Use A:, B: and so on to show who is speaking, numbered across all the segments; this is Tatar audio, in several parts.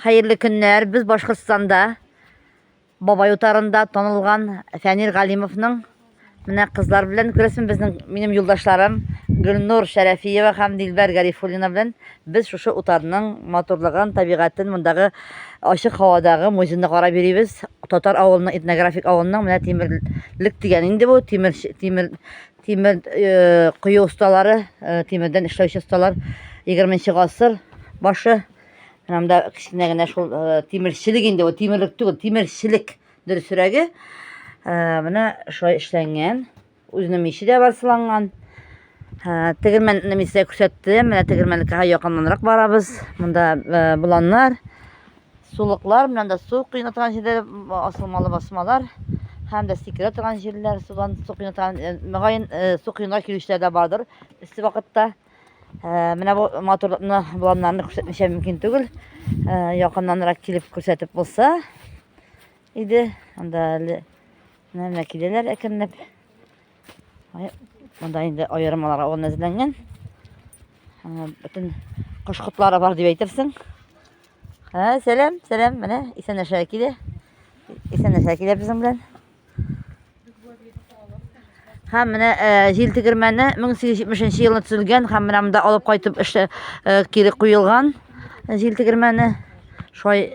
A: Хәерле көннәр! Без Башкортстанда Бабай утарында танылган Фәнир Галимовның менә кызлар белән күрәсен безнең минем юлдашларым Гөлнур Шәрәфиева һәм Дилбәр Гарифуллина белән без шушы утарның матурлыгын, табигатен, мондагы ачык һавадагы музейны карап йөрибез. Татар авылының этнографик авылының менә тимерлек дигән инде бу тимер тимер Тимер кою осталары, тимердән эшләүче осталар 20 гасыр башы. Менә монда кечкенә генә шул тимерчелек инде, бу тимерлек түгел, тимерчелек дөресрәге. Менә шулай эшләнгән. Үзенең миче дә бар сыланган. Тегермән мисә күрсәтте. Менә тегермәнлеккә якыннанрак барабыз. Монда боланнар. Сулыклар белән дә су коена торган җирләр, асылмалы басмалар һәм дә сикерә торган җирләр, судан су коена торган, э, мөгаен, э, су коенга килүчеләр дә бардыр эссе вакытта. Э, менә бу матурлыкны боланнарны күрсәтмичә мөмкин түгел. Э, якыннанрак килеп күрсәтеп булса иде. Анда әле менә киләләр әкренләп. Монда инде аермаларга урын әзерләнгән. Бөтен кош котлары бар дип әйтерсең. Һә, сәлам, сәлам, менә исәнәшә килә. Исәнәшә килә безнең белән. Һәм менә җил тегермәне 1870 елда төзелгән һәм менә монда алып кайтып эшле кире куелган җил тегермәне шулай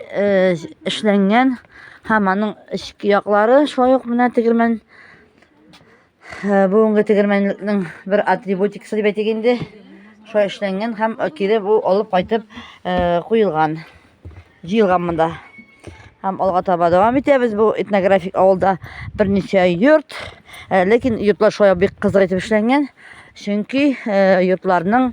A: эшләнгән һәм аның эчке яклары шулай ук менә тегермән Э, бүгенге тегермәнлекнең бер атрибутикасы дип әйтик инде шулай эшләнгән һәм кире бу алып кайтып э, куелган җыелган монда һәм алга таба дәвам итәбез бу этнографик авылда берничә йорт э, ләкин йортлар шулай бик кызык итеп эшләнгән чөнки йортларның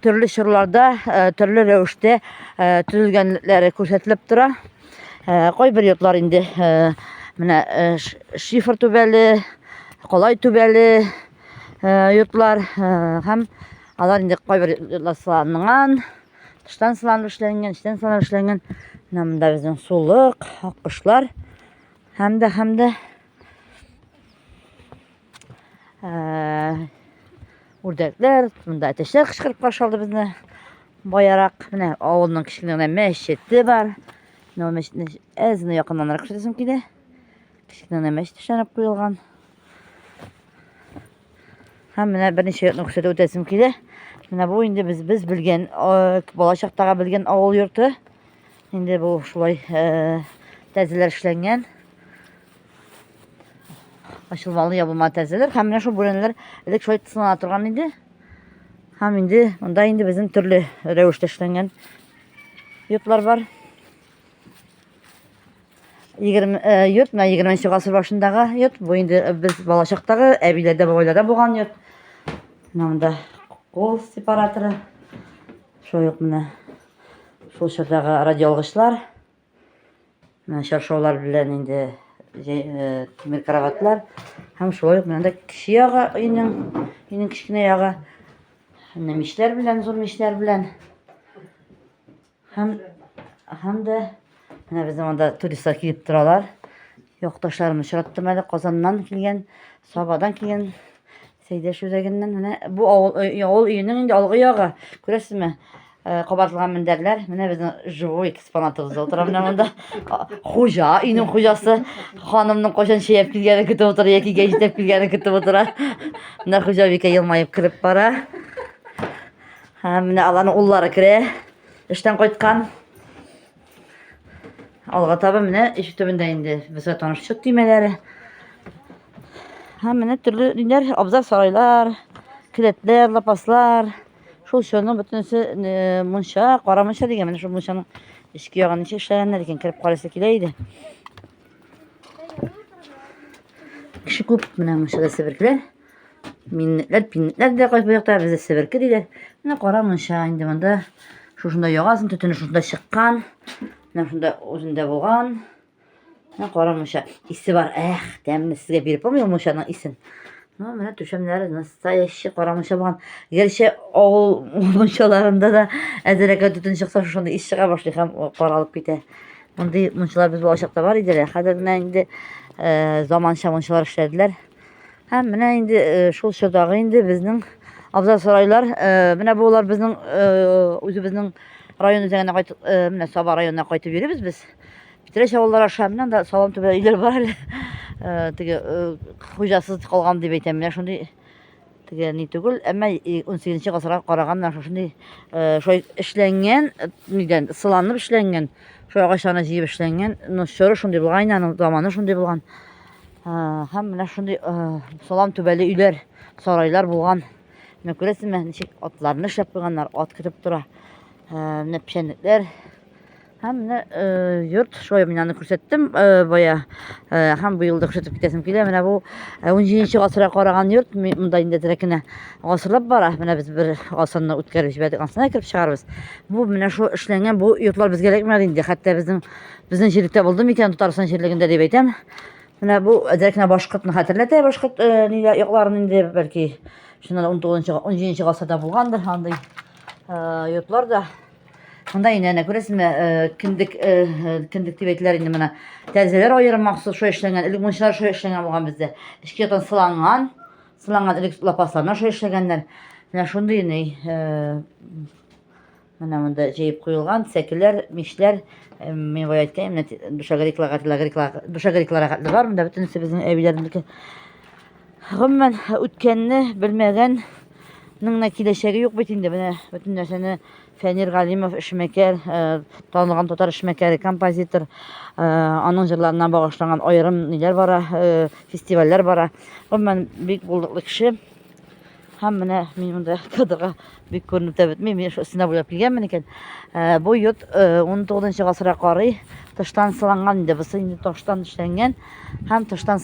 A: төрле чорларда э, төрле рәвештә э, төзелгәнлекләре күрсәтелеп тора. Э, кайбер йортлар инде менә шифр түбәле, колай түбәле йортлар һәм алар инде кайбер йортлар сыланган, тыштан сыланып эшләнгән, эчтән сыланып эшләнгән. Менә монда безнең сулык, аккошлар һәм дә һәм дә үрдәкләр, монда әтәчләр кычкырып каршы алды безне. Баярак, менә авылның кечкенә генә мәчете бар. Менә ул мәчетне әзне якыннанрак күрсәтәсем килә. Кечкенә генә мәчет эшләнеп куелган. Һәм менә берничә йортны күрсәтеп үтәсем килә. Менә бу инде без без белгән бала чактагы белгән авыл йорты. Инде бу шулай тәзеләр эшләнгән. Ачылмалы ябылма тәрәзәләр һәм менә шул бүрәнәләр элек шулай тыслана торган иде. Һәм инде монда инде безнең төрле рәвештә эшләнгән йортлар бар. 20 э, йорт, менә 20 гасыр башындагы йорт. Бу инде э, без балачактагы әбиләрдә, бабайларда булган йорт. Менә монда кол сепараторы. Шулай ук менә шул чордагы радиоалгычлар. Менә чаршаулар белән инде тимер кроватлар һәм шулай ук менә дә кече ягы өйнең өйнең кечкенә ягы менә мичләр белән зур мичләр белән һәм һәм дә менә безнең анда туристлар килеп торалар якташларым очраттым әле казаннан килгән сабадан килгән Сәйдәш үзәгеннән менә бу авыл авыл өенең инде алгы ягы. Күрәсезме? Э, кабартылган мендәрләр. Менә безнең живой экспонатыбыз да утыра менә монда. Хуҗа, өйнең хуҗасы ханымның кайчан чәяп килгәнен көтеп утыра яки гә җитеп килгәнен көтеп утыра. Менә хуҗа бикә елмаеп кереп бара. Һәм менә аларның уллары керә. Эштән кайткан. Алга таба менә иш төбендә инде безгә таныштык төймәләре. Һәм менә төрле ниләр, абзар сарайлар, келәтләр, лапаслар. Шул чорның бөтенесе э, мунча, кара мунча дигән менә шул мунчаның эчке ягын ничек эшләгәннәр икән, кереп карыйсы килә иде. Кеше күп менә мунчада себеркеләр. Миннетләр, пиннетләр дә кайсы якта, бездә себерке диләр. Менә кара мунча инде монда. Шушында ягасын, төтене шушында чыккан. Менә шунда үзендә булган. Менә кара мунча. Исе бар. Эх, тәмле сезгә биреп булмый мунчаның исен. Ну, менә түшәмнәре настоящий кара мунча булган. Гәрчә авыл мунчаларында да әзерәкә төтен чыкса, шушында ис чыга башлый һәм каралып китә. Мондый мунчалар без балачакта бар иде. Хәзер менә инде заманча мунчалар эшләделәр. Һәм менә инде э, шул чордагы инде безнең абзал сарайлар, э, менә булар безнең э, үзебезнең район үзәгенә кайтып, менә Саба районына кайтып йөрибез без. Питрәч авыллары аша менә да салам түбә өйләр бар әле. Теге хуҗасыз калган дип әйтәм, менә шундый Теге ни түгел, әмма унсигезенче гасырга караганнан шушындый шулай эшләнгән, нидән сыланып эшләнгән, шул агачларны җыеп эшләнгән, ну чоры шундый булган инде, аның заманы шундый булган. Һәм менә шундый салам түбәле өйләр, сарайлар булган. Менә күрәсезме, ничек атларны эшләп куйганнар, ат көтеп тора. Менә печәнлекләр, Һәм менә йорт шулай мин аны күрсәттем бая. Һәм быел да күрсәтеп китәсем килә. Менә бу 17 гасырга караган йорт монда инде дирәкенә гасырлап бара. Менә без бер гасырны үткәреп җибәрдек, ансына кереп чыгарбыз. Бу менә шул эшләнгән бу йортлар безгә кирәкмәде инде. Хәтта безнең безнең җирлектә булды микән Татарстан җирлегендә дип әйтәм. Менә бу дирәкенә башкортны хәтерләтә, башкорт ниләр якларын инде бәлки шуннан 19-17 гасырда булгандыр андый йортлар да. Шунда инде әнә күрәсезме, э, кендек э, э, кендек дип әйтеләр инде менә. Тәрәзәләр аерым махсус шулай эшләнгән, элек мунчалар шулай эшләнгән булган бездә. Эчке яктан сыланган, сыланган элек лапасларына шулай эшләгәннәр. Менә шундый инде менә монда җыеп куелган сәкеләр, мишләр, мин бая әйткән, менә душагриклар, душагриклар хәтле бар, монда бөтенесе безнең әбиләрнеке. Гомумән, үткәнне белмәгәннең дә киләчәге юк бит инде. Менә бөтен нәрсәне Фәнир Галимов эшмәкәр, э, танылган татар эшмәкәре, композитор, э, аның җырларына багышланган аерым ниләр бара, э, фестивальләр бара. Гомумән, бик булдыклы кеше. Һәм менә мин монда кадырга бик күренеп тә бетмим. Мин шул өстенә буйлап килгәнмен икән. Э, бу йорт э, 19 нчы гасырга карый тыштан сыланган инде. Бусы инде таштан эшләнгән һәм тыштан